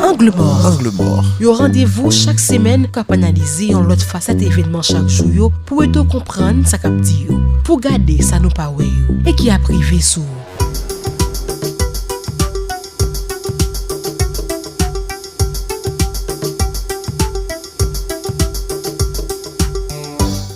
Angle mò, yon randevou chak semèn k ap analize yon lòt fasèt evènman chak jou yo pou ede w konprann sa k ap di yo, pou w gade sa nou pa wè yo e ki ap rive sou ou.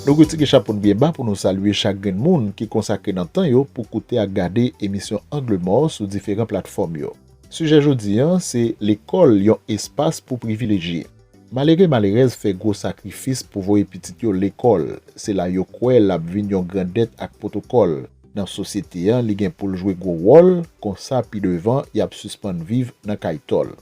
Nou retire chapo n byen ba pou nou salye chak grenn moun ki konsakre nan tan yo pou koute ak gade emisyon Angle mò sou diferan platfòm yo. Sijè jodi an se Lekòl yon espas pou privilejye. Malere malerèz fè gwo sakrifis pou voye pitit yo lekòl, se la yo kwè l ap vin yon grandèt ak pwotokòl nan sosyete an li gen pou l jwe gwo wòl, konsa pi devan y ap sispann viv nan kay tòl.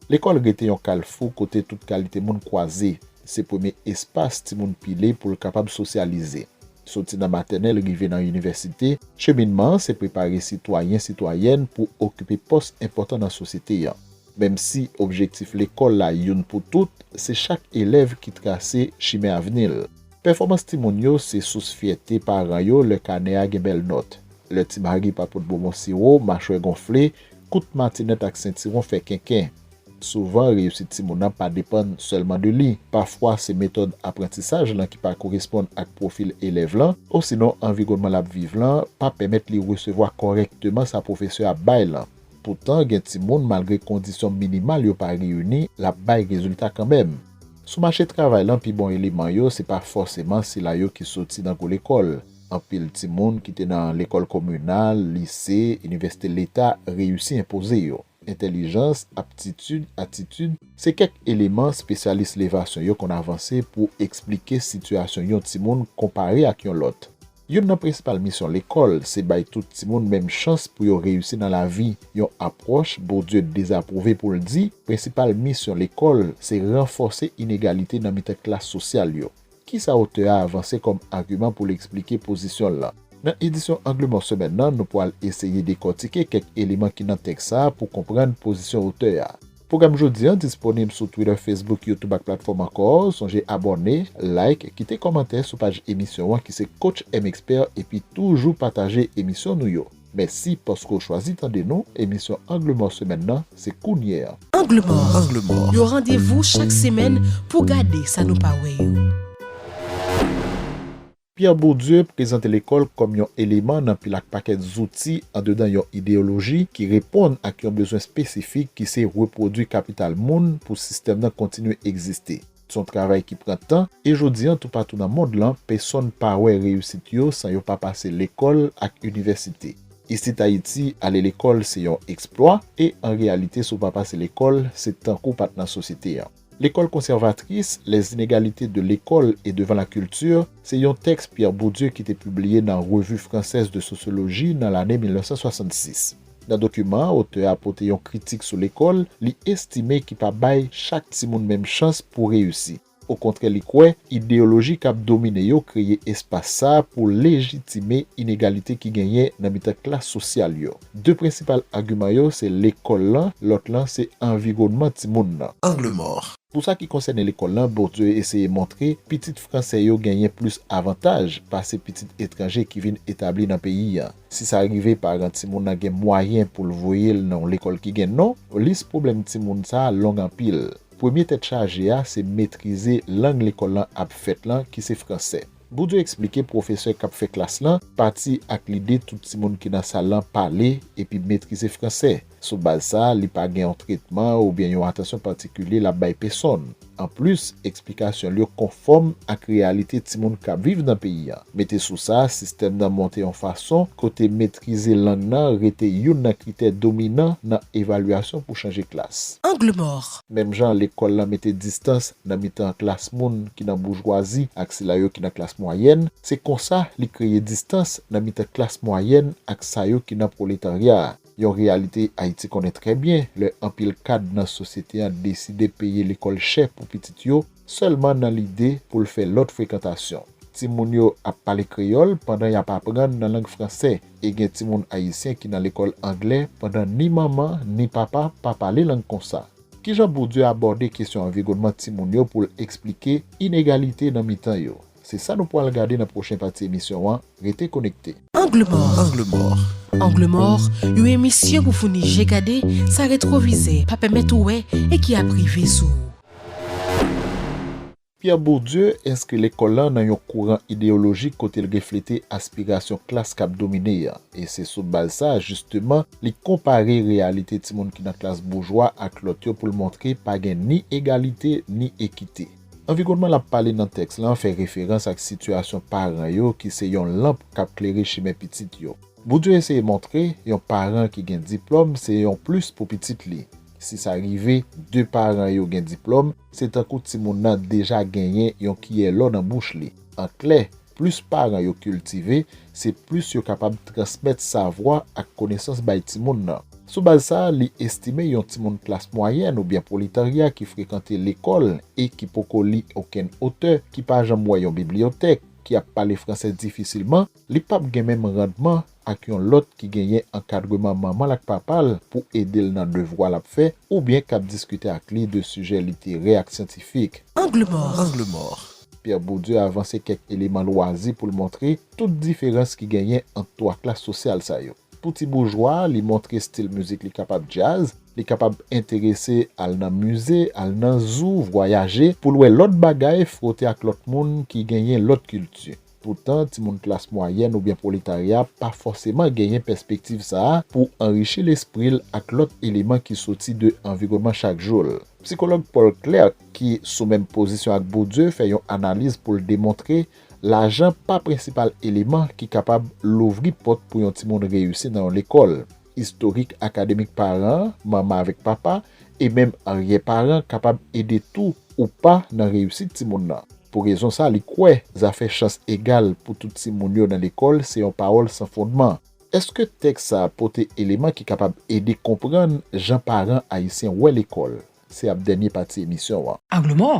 Lekòl rete yon kalfou kote tout kalite moun kwaze, se premye espas timoun pile pou l kapab sosyalize. Soti nan matènèl rive nan inivèsite, cheminman an se prepare sitwayen, sitwayèn pou okipe pòs enpòtan nan sosyete an. Menm si objektif lekòl la youn pou tout, se chak elèv ki trase chimen avni l. Pèfòmans timoun yo se sous fyète paran yo lè kanè a gen bèl nòt. Lè Ti Mari pa pot bonbon siwo, machwè gonfle, kout matinèt ak sentiwon fè kenken. Souvan, reyisit timoun nan pa depann sèlman de li. Pafwa, se metòd aprantisaj lan ki pa koresponn ak pwofil elèv lan, osinon anviwònman l ap viv lan pa pèmèt li resevwa kòrèkteman sa pwofesè a ap bay lan. Poutan, gen timoun, malgre kondisyon minimal yo pa reyini, l ap bay rezilta kanmenm. Sou mache travay lan, pi bon eleman yo, se pa fòseman sila yo ki soti nan gwo lekòl. Anpil timoun ki te nan lekòl kominal, lise, inivèsite leta reyisi enpoze yo. Entèlijans, aptitid, atitid, se kèk eleman spesyalis levasyon yo konn avanse pou esplike sitiyasyon yon timoun konpare ak yon lòt. Youn nan prensipal misyon lekòl se bay tout timoun menm chans pou yo reyisi nan lavi, yon apwòch Bourdieu dezapwouve pou l di prensipal misyon lekòl se ranfòse inegalite nan mitan klas sosyal yo. Ki sa otè a avanse kòm agiman pou l esplike pozisyon l lan? Nan edisyon Angle Mò semèn nan, nou pral eseye dekòtike kèk eleman ki nan tèks sa a pou konprann pozisyon otè a. Pwogram jodi an disponib sou Twitter, Facebook, YouTube ak platfòm ankò. Sonje abòne, like, kite kòmantè sou paj emisyon an ki se Coach M Expert epi toujou pataje emisyon nou yo. Mèsi paske w chwazi tande nou, emisyon Angle Mò semèn nan se kounye an. Angle Mò, yon randevou chak semèn pou gade sa nou pa wè yo. Pierre Bourdieu prezante lekòl kòm yon eleman nan pil ak pakèt zouti andedan yon ideyoloji ki reponn ak yon bezwen espesifik ki se repwodui kapital moun pou sistèm nan kontinye egziste. Se yon travay ki pran tan, e jodi an toupatou nan mond lan, pesonn pa wè reyisit yo san yo pa pase lekòl ak inivèsite. Isit Ayiti, ale lekòl se yon eksplwa, e an reyalite si w pa pase lekòl, se tankou w pa t nan sosyete an. L'école conservatrice, les inégalités de l'école et devant la culture, se yon tèks Pierre Bourdieu ki te pibliye nan Revue française de sociologie nan lane 1966. Nan dokiman an, otè a pote yon kritik sou lekòl li estime ki pa bay chak timoun menm chans pou reyisi. Okontrè li kwè, ideyoloji k ap domine yo kreye espas sa pou lejitime inegalite ki genyen nan mitan klas sosyal yo. De prensipal agiman yo se lekòl lan, lòt lan se anviwònman timoun nan. Angle mort. Pou sa ki konsène lekòl lan, Bourdieu eseye montre pitit fransè yo genyen plis avantaj pase pitit etranje ki vin etabli nan peyi an. Si sa rive paran timoun nan gen mwayen pou l voye l nan yon lekòl ki gen non, lis pwoblèm timoun sa a long anpil. Premye tèt chaje a se metrize lang lekòl lan ap fèt lan ki se fransè. Bourdieu eksplike pwofesè k ap fè klas lan pati ak lide tout timoun ki nan sal lan pale epi metrize fransè. Sou baz sa, li pa gen yon tretman oubyen yon atansyon patikilye l ap bay pesonn. Anplis, eksplikasyon l yo konfòm ak reyalite timoun k ap viv nan peyi an. Mete sou sa, sistèm nan monte yon fason kote metrize lang nan rete youn nan kritè dominan nan evalyasyon pou chanje klas. Angle mò! Menm jan lekòl lan mete distans nan mitan klas moun ki nan boujwazi ak sila yo ki nan klas mwayèn, se konsa li kreye distans nan mitan klas mwayèn ak sa yo ki nan pwoletarya a. Yon reyalite Ayiti konnen trè byen lè anpil kad nan sosyete an deside peye lekòl chè pou pitit yo sèlman nan lide pou l fè lòt frekantasyon. Timoun yo ap pale kreyòl pandan y ap aprann nan lang franse e gen timoun ayisyen ki nan lekòl angle pandan ni manman ni papa pa pale lang konsa. Kijan Bourdieu abòde kesyon anviwònman timoun yo pou l esplike inegalite nan mitan yo? Se sa nou pwal gade nan pwochen pati emisyon an, rete konekte. Angle mort Angle mort Angle mort, yon emisyon pou founi je gade sa retwovizè pa pèmèt ou wè e ki ap rive sou ou. Pierre Bourdieu enskri lekòl lan nan yon kouran ideyolojik kote l reflete aspirasyon klas k ap domine an, e se sou baz sa a jisteman li konpare reyalite timoun ki nan klas boujwa ak lòt yo pou l montre pa gen ni egalite ni ekite. Anviwònman l ap pale nan tèks lan fè referans ak sitiyasyon paran yo ki se yon lanp k ap klere chimen pitit yo. Bourdieu eseye montre yon paran ki gen diplòm se yon plis pou pitit li. Si sa rive, de paran yo gen diplòm, se tankou timoun nan deja genyen yon kiyè lò nan bouch li. An klè, Plis paran yo kiltive, se plis yo kapab transmèt savwa ak konesans bay timoun nan. Sou baz sa, li estime yon timoun klas mwayèn oubyen pwoletarya ki frekante lekòl e ki poko li okenn otè, ki pa janm wè yon bibliyotèk, ki ap pale franse difisilman, li pap gen menm randman ak yon lòt ki genyen ankadreman manman l ak papa l pou ede l nan devwa l ap fè oubyen k ap diskite ak li de sijè literè ak syantifik. Angle mò. Pierre Bourdieu avanse kèk eleman lwazi pou l montre tout diferans ki genyen ant twa klas sosyal sa yo. Pou ti boujwa a, li montre stil mizik li kapab djaz, li kapab enterese al nan mize, al nan zou, vwayaje pou l wè lòt bagay, fwote ak lòt moun ki genyen lòt kilti. Poutan, timoun klas mwayèn oubyen pwoletarya pa fòseman genyen pèspektiv sa a pou anrichi lespri l ak lòt eleman ki soti de anviwònman chak jou l. Psikològ Paul Clerk, ki sou menm pozisyon ak Bourdieu, fè yon analiz pou l demontre lajan pa prensipal eleman ki kapab louvri pòt pou yon timoun reyisi nan yon lekòl. Istorik akademik paran, manman avèk papa, e menm aryè paran kapab ede tou ou pa nan reyisit timoun nan. Pou rezon sa li kwè zafè chans egal pou tout timoun yo nan lekòl se yon pawòl san fondman. Èske tèks sa pote eleman ki kapab ede konprann jan paran ayisyen wè lekòl? Se ap dènye pati emisyon an. Angle Mò,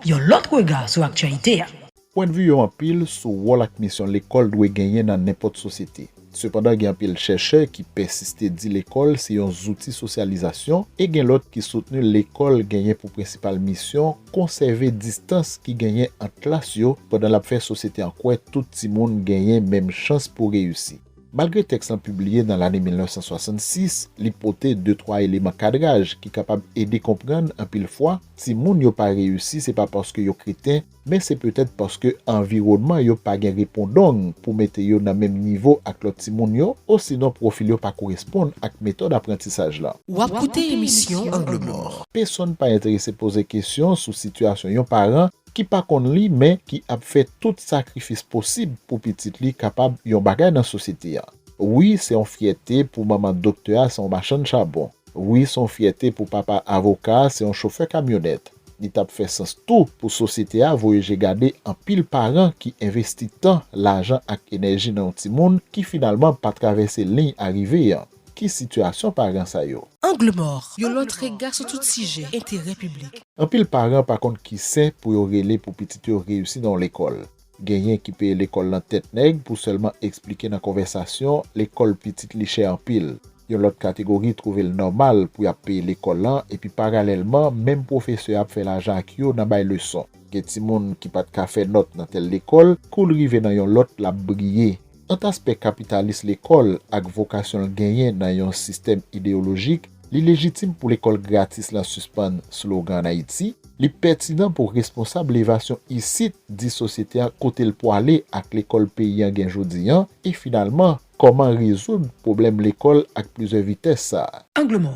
yon lòt rega sou aktyalite a. Pwendvi yo anpil sou wòl ak misyon lekòl dwe genyen nan nenpòt sosyete. Sepandan gen anpil chèchè ki pèsiste di lekòl se yon zouti sosyalizasyon e gen lòt ki soutni lekòl genyen pou prensipal misyon konsève distans ki genyen ant klas yo pandan l ap fè sosyete an kwè tout timoun genyen menm chans pou reyisi. Malgre tèks lan pibliye nan lane 1966, li pote de twa eleman kadraj ki kapab ede konprann anpil fwa, timoun yo pa reyisi se pa paske yo kreten, men se petèt paske anviwònman yo pa gen repondong pou mete yo nan menm nivo ak lòt timoun yo, osinon pwofil yo pa koresponn ak metòd aprantisaj lan. W ap koute emisyon Angle Mò. Pesonn pa enterese poze kesyon sou sitiyasyon yon paran ki pa konn li men ki ap fè tout sakrifis posib pou pitit li kapab yon bagay nan sosyete a. Wi se yon fyète pou manman doktè a se yon machann chabon. Wi se yon fyète pou papa avoka a se yon chofè kamyonèt. Li t ap fè sans tou pou sosyete a voye je gade anpil paran ki envesti tan, lajan ak enèji nan yon timoun ki finalman pa travèse liy arive an. Ki sitiyasyon paran sa yo? Angle mòr, yon lòt rega sou tout sijè enterè piblik. Anpil paran pa konn ki sè pou yo rele pou pitit yo reyisi nan yon lekòl. Genyen ki peye lekòl lan tèt nèg pou sèlman esplike nan konvèsasyon lekòl pitit li chè anpil. Yon lòt kategori twouve l nòmal pou y ap peye lekòl lan epi paralèlman menm pwofesè a ap fè lajan ak yo nan bay leson. Gen timoun ki pa t ka fè nòt nan tèl lekòl, kou l rive nan yon lòt l ap briye. Ant aspè kapitalis lekòl ak vokasyon l genyen nan yon sistèm ideyolojik, li lejitim pou lekòl gratis lan sispann slogan an Ayiti, li pètinan pou responsab levasyon isit di sosyete an kote l pwale ak lekòl peyi an gen jodi an e finalman kòman rezoud pwoblèm lekòl ak plizyè vitès sa a. Angle mò.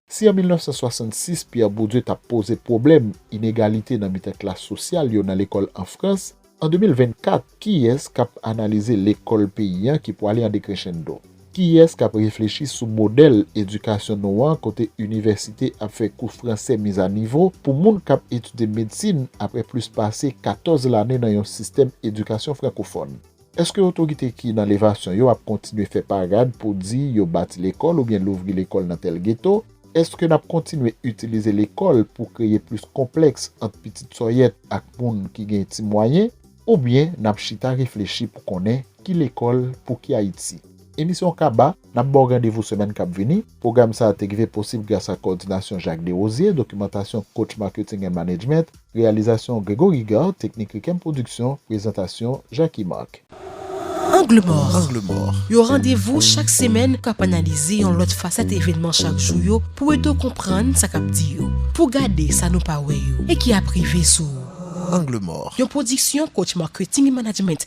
Si an 1966 Pierre Bourdieu t ap poze pwoblèm inegalite nan mitan klas sosyal yo nan lekòl an Frans, An 2024, kiyès k ap analize lekòl peyi an ki pwale an dekrenchendo? Kiyès k ap reflechi sou modèl edikasyon nou an kote inivèsite ap fè kou franse mizanivo pou moun k ap etidye medsin apre plis pase 14 lane nan yon sistèm edikasyon frankofòn? Èske otorite ki nan levasyon yo ap kontinye fè parad pou di yo bati lekòl oubyen louvri lekòl nan tèl geto? Èske n ap kontinye itilize lekòl pou kreye plis konplèks ant pitit sòyèt ak moun ki gen ti mwayen oubyen n ap chita reflechi pou konnen ki lekòl pou ki Ayiti? Emisyon Kaba, N ap ba w randevou semèn k ap vini. Pwogram sa a te rive posib grasa kowòdinasyon Jacques Desrosiers, dokimantasyon Coach Marketing and Management. Reyalizasyon Gregory Gard Teknik Rikem Production Prezantasyon Jacky Marc. Angle mò, yon randevou chak semèn k ap analize yon lòt fasèt evènman chak jou yo pou ede w konprann sa k ap di yo, pou gade sa nou pa wè yo e ki ap rive sou ou. Angle mò, yon pwodiksyon Coach Marketing et Management.